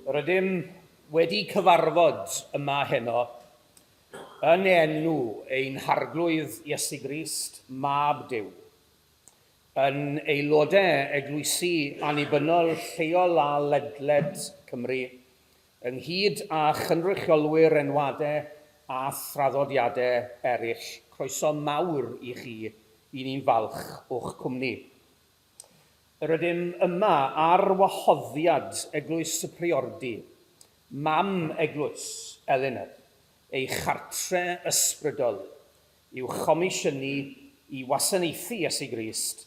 Rydym wedi cyfarfod yma heno yn enw ein Harglwydd Iesu Grist, Mab Duw, yn aelodau eglwysi annibynnol lleol a ledled Cymru, Ynghyd â chynrychiolwyr enwade a thraddodiade eraill, croeso mawr i chi, i ni'n falch o'ch cwmni. Yr ydym yma ar wahoddiad Eglwys y Priordy, mam eglwys Elinor, ei chartre ysbrydol, i'w chomisiynu i wasanaethu Iesu Grist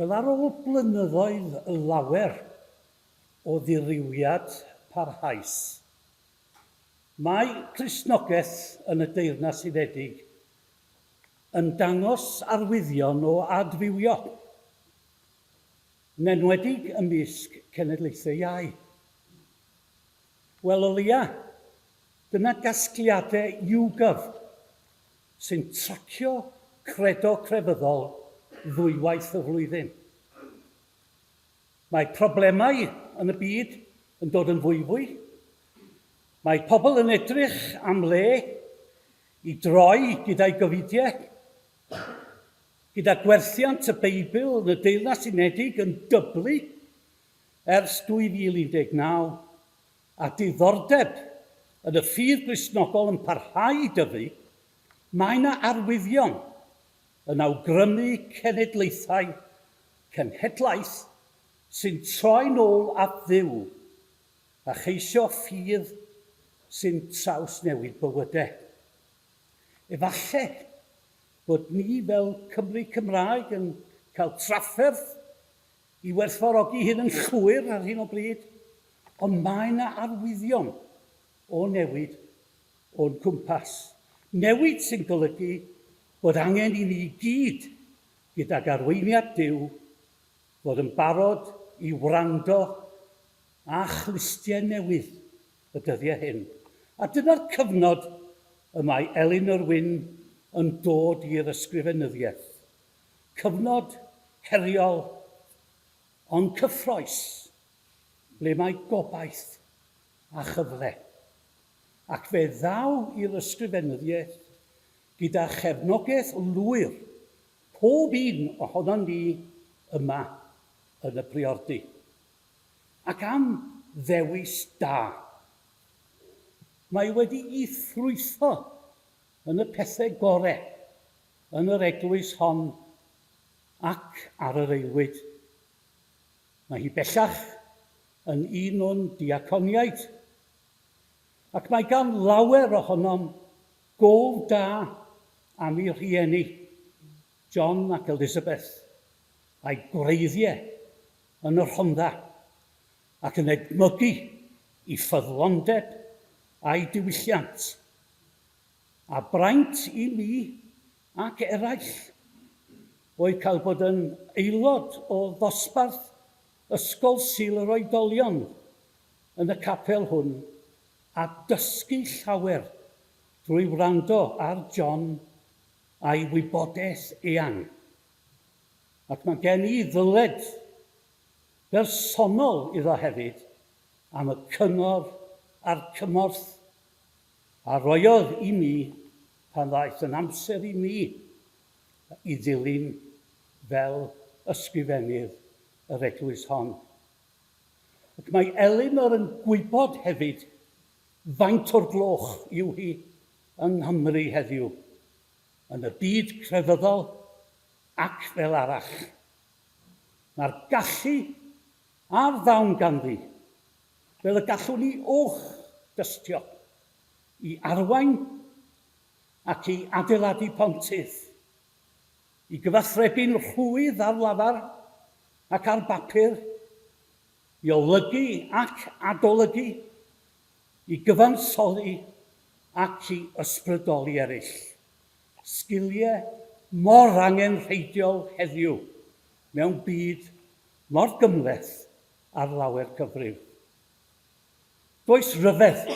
Wel, ar ôl blynyddoedd lawer o ddirywiad parhaus, mae Cristnogaeth yn y Deyrnas Unedig yn dangos arwyddion o adfywio, yn enwedig ymysg cenedlaethau iau. Wel, o leia', Dyna gasgliadau YouGov sy'n tracio credo crefyddol ddwywaith y flwyddyn. Mae problemau yn y byd yn dod yn fwyfwy, mae pobl yn edrych am le i droi gyda'u gofidiau, gyda gwerthiant y Beibl yn y Deyrnas Unedig yn dyblu ers 2019, a diddordeb yn y ffydd Gristnogol yn parhau i dyfu, mae yna arwyddion yn awgrymu cenedlaethau cenhedlaeth sy'n troi'n ôl at Dduw a cheisio ffydd sy'n trawsnewid bywydau. Efallai bod ni fel Cymry Cymraeg yn cael trafferth i werthfawrogi hyn yn llwyr ar hyn o bryd, ond mae yna arwyddion o newid o'n cwmpas, newid sy'n golygu bod angen i ni i gyd, gydag arweiniad Duw, fod yn barod i wrando a chlustiau newydd y dyddiau hyn. A dyna'r cyfnod y mae Elin Irwin yn dod i'r ysgrifenyddiaeth. Cyfnod heriol ond cyffrous ble mae gobaith a chyfle. Ac fe ddaw i'r ysgrifenyddiaeth gyda chefnogaeth lwyr pob un ohonon ni yma yn y Priordy. Ac am ddewis da! Mae wedi'i ffrwytho yn y pethe gore Yn yr eglwys hon ac ar yr aelwyd. Mae hi bellach yn un o'n diaconiaid, ac mae gan lawer ohonom gof da am ei rhieni, John ac Elizabeth, a'i gwreiddiau yn y Rhondda, ac yn edmygu ei ffyddlondeb a'i diwylliant. A braint i mi, ac eraill, oedd cael bod yn aelod o ddosbarth Ysgol Sul yr Oedolion yn y capel hwn a dysgu llawer drwy wrando ar John a'i wybodaeth eang. Ac mae gen i ddyled bersonol iddo hefyd am y cyngor a'r cymorth a rhoiodd i mi pan ddaeth yn amser i mi i ddilyn fel ysgrifennydd yr eglwys hon. Ac mae Elinor yn gwybod hefyd faint o'r gloch yw hi yng Nghymru heddiw, yn y byd crefyddol ac fel arall. Mae'r gallu a'r ddawn ganddi. Fel y gallwn ni uwch dystio i arwain ac i adeiladu pontydd, i gyfathrebu'n rhwydd ar lafar ac ar bapur, i olygu ac adolygu, i gyfansoddi ac i ysbrydoli eraill, sgiliau mor angenrheidiol heddiw mewn byd mor gymhleth ar lawer cyfrif. Does ryfedd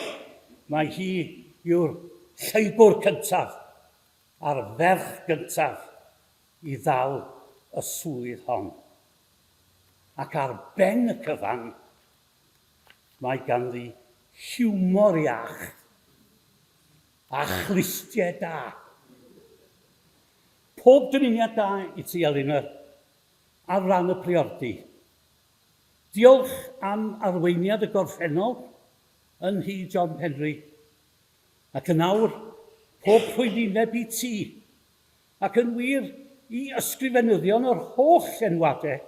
mai hi yw'r lleibwr cyntaf a'r ferch gyntaf i ddal y swydd hon. Ac ar ben y cyfan, mae ganddi hiwmor iach a chlustiau da. Pob dymuniad da i ti, Elinor, ar ran y priordy. Diolch am arweiniad y gorffennol yn nhŷ John Penri, ac yn awr, pob rhwyddineb i ti, ac yn wir, i ysgrifenyddion yr holl enwade,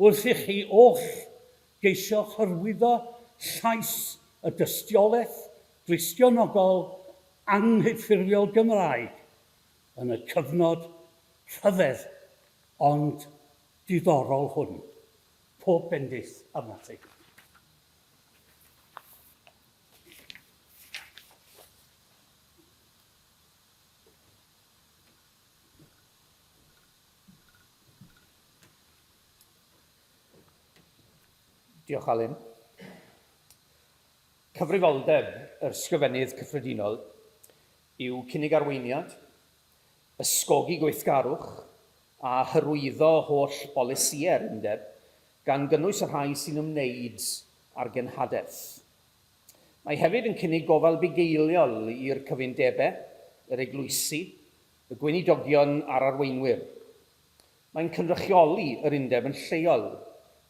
wrth i chi oll geisio hyrwyddo llais y dystiolaeth dristionogol anghyffurfiol Gymraeg yn y cyfnod rhyfedd ond diddorol hwn. Pob bendith arnat ti. Diolch, Alun. Cyfrifoldeb yr Ysgrifennydd Cyffredinol yw cynnig arweiniad ysgogi gweithgarwch a hyrwyddo holl bolisïau'r Undeb, gan gynnwys y rhai sy'n ymwneud â'r genhadaeth. Mae hefyd yn cynnig gofal bugeiliol i'r cyfundebau, yr eglwysi, y gweinidogion a'r arweinwyr. Mae'n cynrychioli yr Undeb yn lleol,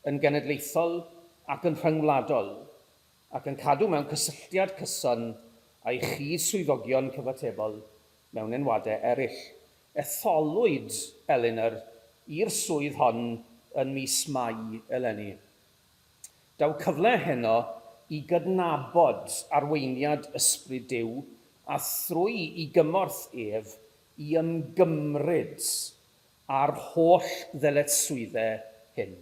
yn genedlaethol ac yn rhyngwladol, ac yn cadw mewn cysylltiad cyson â'i chyd-swyddogion cyfatebol mewn enwadau eraill. Etholwyd Elinor i'r swydd hon yn mis Mai eleni. Daw cyfle heno i gydnabod arweiniad Ysbryd Duw a thrwy i gymorth ef i ymgymryd â'r holl ddyletswyddau hyn.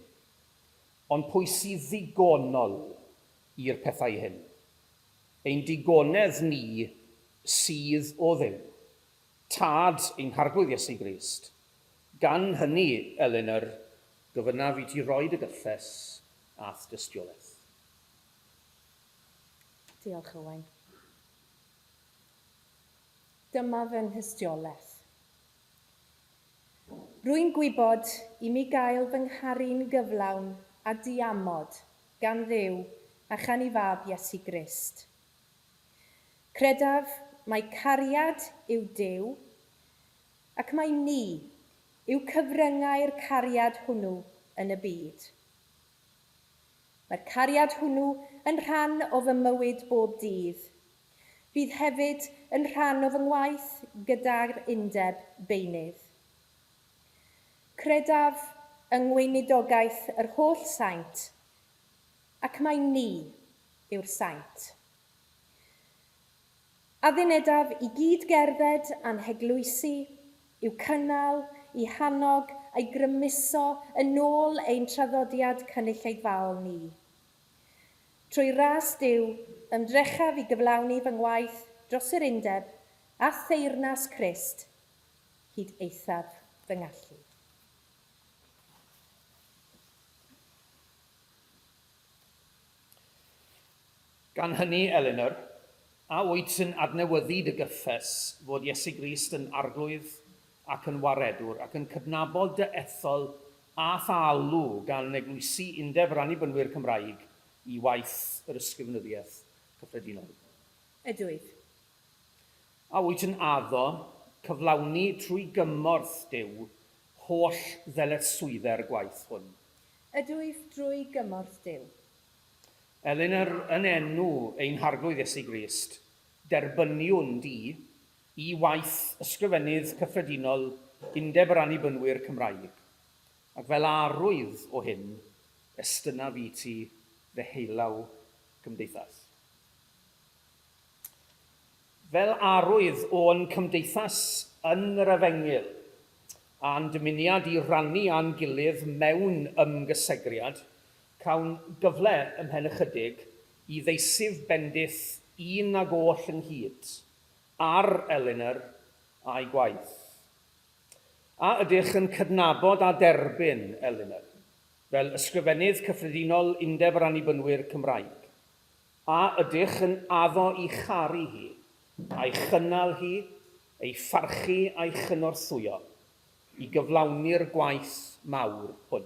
Ond pwy sydd ddigonol i'r pethau hyn? Ein digonedd ni sydd o Dduw, Tad ein Harglwydd Iesu Grist. Gan hynny, Elinor, gofynnaf i ti roi dy gyffes a'th dystiolaeth. Diolch, Owain. Dyma fy nhystiolaeth. Rwy'n gwybod i mi gael fy ngharu'n gyflawn a diamod gan Dduw a chan ei Fab Iesu Grist. Credaf mai cariad yw Duw, ac mai ni yw cyfryngau'r cariad hwnnw yn y byd. Mae'r cariad hwnnw yn rhan o fy mywyd bob dydd, Bydd hefyd yn rhan o fy ngwaith gyda'r Undeb Beunydd. Credaf yng ngweinidogaeth yr holl saint, ac mai ni yw'r saint. Addunedaf i gyd gerdded a'n heglwysi, i'w cynnal, i hannog a'i grymuso yn ôl ein traddodiad cynulleidfaol ni. Trwy ras Duw, ymdrechaf i gyflawni fy ngwaith dros yr undeb a theyrnas Crist hyd eithaf fy ngallu. Gan hynny, Elinor, a wyt yn adnewyddu dy gyffes fod Iesu Grist yn Arglwydd ac yn Waredwr, ac yn cydnabod dy ethol a pha alw gan eglwysi Undeb yr Annibynwyr Cymraeg i waith yr Ysgrifenyddiaeth Cyffredinol? Ydwyf. A wyt yn addo cyflawni trwy gymorth Duw holl ddyletswydde'r gwaith hwn? Ydwyf, drwy gymorth Duw. Elin, yr, yn enw ein Harglwydd Iesu Grist, derbyniwn di Y waith Ysgrifennydd Cyffredinol Undeb yr Annibynwyr Cymraeg, ac fel a arwydd o hyn, estynaf i ti fy heilaw gymdeithas. Fel arwydd o'n cymdeithas yn yr efengyl, a'n dymuniad i rannu â'n gilydd mewn ymgysegriad, cawn gyfle ymhen ychydig i ddeisyf bendith un ag oll ynghyd, ar Elinor a'i gwaith. A ydych yn cydnabod a derbyn Elinor fel Ysgrifennydd Cyffredinol Undeb yr Annibynwyr Cymraeg? A ydych yn addo i charu hi, a'i chynnal hi, ei pharchu a'i chynorthwyo i gyflawni'r gwaith mawr hwn?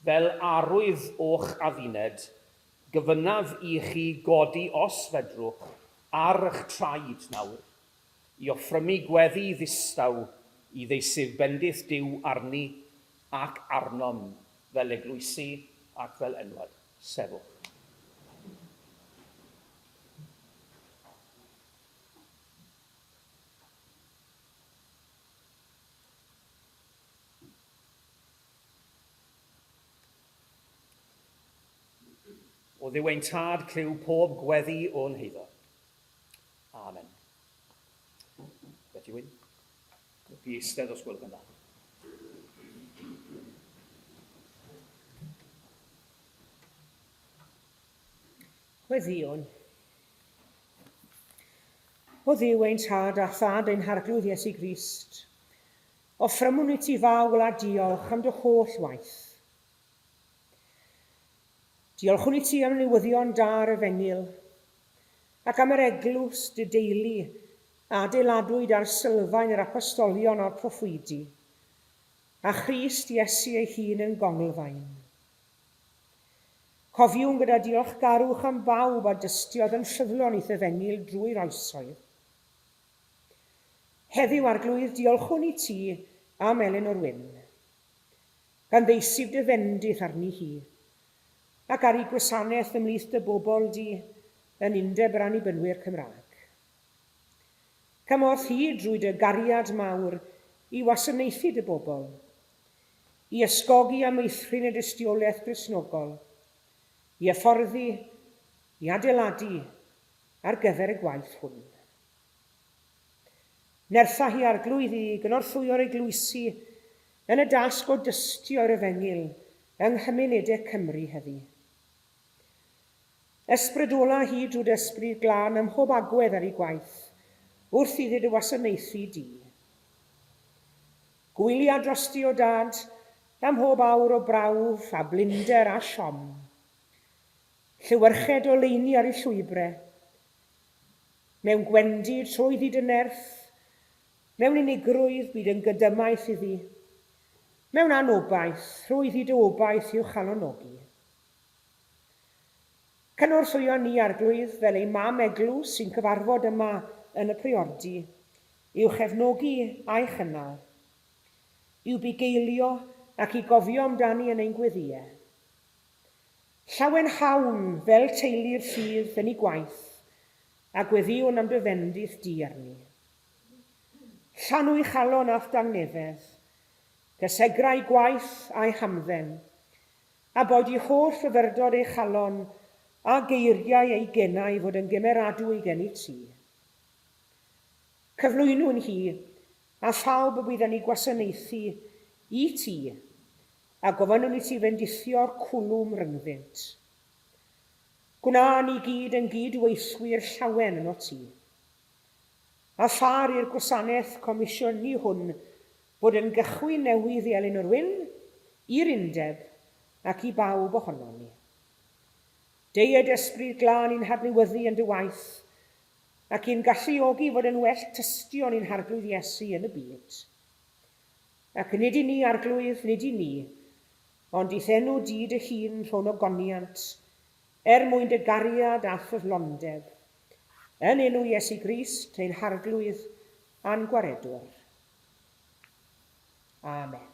Fel arwydd o'ch adduned, gofynnaf i chi godi os fedrwch ar ych traed nawr, i offrymu gweddi ddistaw i ddeisydd bendith Duw arni ac arnom fel eglwysi ac fel enwad. Sefwch. O ddiw ein tad, clyw pob gweddi o'n heiddo. Amen. Beth yw un? Fi eistedd os gwelwch yn dda. Gweddion. O ddiw ein tad a thad ein harglwydd Iesu Grist, O ffrymwn i ti Fawl a diolch am dy holl waith. Diolchwn i ti am newyddion da ar y fenil, ac am yr eglwys, dy deulu, a adeiladwyd ar sylfaen yr apostolion a'r proffwydi, a Christ Iesu ei hun yn gonglfaen. Cofiwn gyda diolchgarwch am bawb a dystiodd yn ffyddlon i'th y fenil drwy'r oesoedd. Heddiw, Arglwydd, diolchwn i ti am Elinor Wynne, gan ddeisyf dy fendith arni hi, ac ar ei gwasanaeth ymhlith dy bobl di yn Undeb yr Annibynwyr Cymraeg. Cymorth hi drwy dy gariad mawr i wasanaethu dy bobl, i ysgogi a meithrin y dystiolaeth Gristnogol, i hyfforddi, i adeiladu, ar gyfer y gwaith hwn. Nertha hi Arglwydd i gynorthwyo'r eglwysi yn y dasg o dystio yr efengyl yng nghymunede Cymru heddi. Ysbrydola hi drwy d'Ysbryd Glân ym mhob agwedd ar ei gwaith wrth iddi dy wasanaethu di. Gwylia drosti o Dad am mhob awr o brawf a blinder a siom. Llewyrched oleuni ar ei llwybre, mewn gwendid trwy fyd y nerth, mewn unigrwydd byd yn gydymaith iddi, mewn anobaith trwy fyd o obaith i'w chalonogi. Cynorthwyo ni, Arglwydd, fel ei mam eglwys sy'n cyfarfod yma yn y Priordy, i'w chefnogi a'i chynnal, i'w bugeilio ac i gofio amdani yn ein gweddïau. Llawen hawn fel teulu'r sydd yn i gwaith a gweddiwn am dy fendith di arni. Llanw'i chalon a'th dangnefedd, dy segrau gwaith a'i hamdden, a boed i holl fyfyrdod ei chalon a geiriau ei genau fod yn gymeradwy gennyt ti. Cyflwynwn hi a phawb y bydd yn i gwasanaethu i ti, A gofynnwn i ti fendithio'r cwlwm ryngddynt. Gwna ni gyd yn gyd-weithwyr llawen yno ti. A phar i'r gwasanaeth comisiynu hwn fod yn gychwyn newydd i Elin yr Wyn, i'r Undeb, ac i bawb ohonon ni. Deued ysbryd glân i'n hadnewyddu yn dy waith, ac i'n galluogi fod yn well tystion i'n Harglwydd Iesu yn y byd. Ac nid i ni, Arglwydd, nid i ni, ond i'th enw di dy hun rho'n ogoniant, er mwyn dy gariad a ffyddlondeb. Yn enw Iesu Grist, ein Harglwydd a'n Gwaredwr. Amen.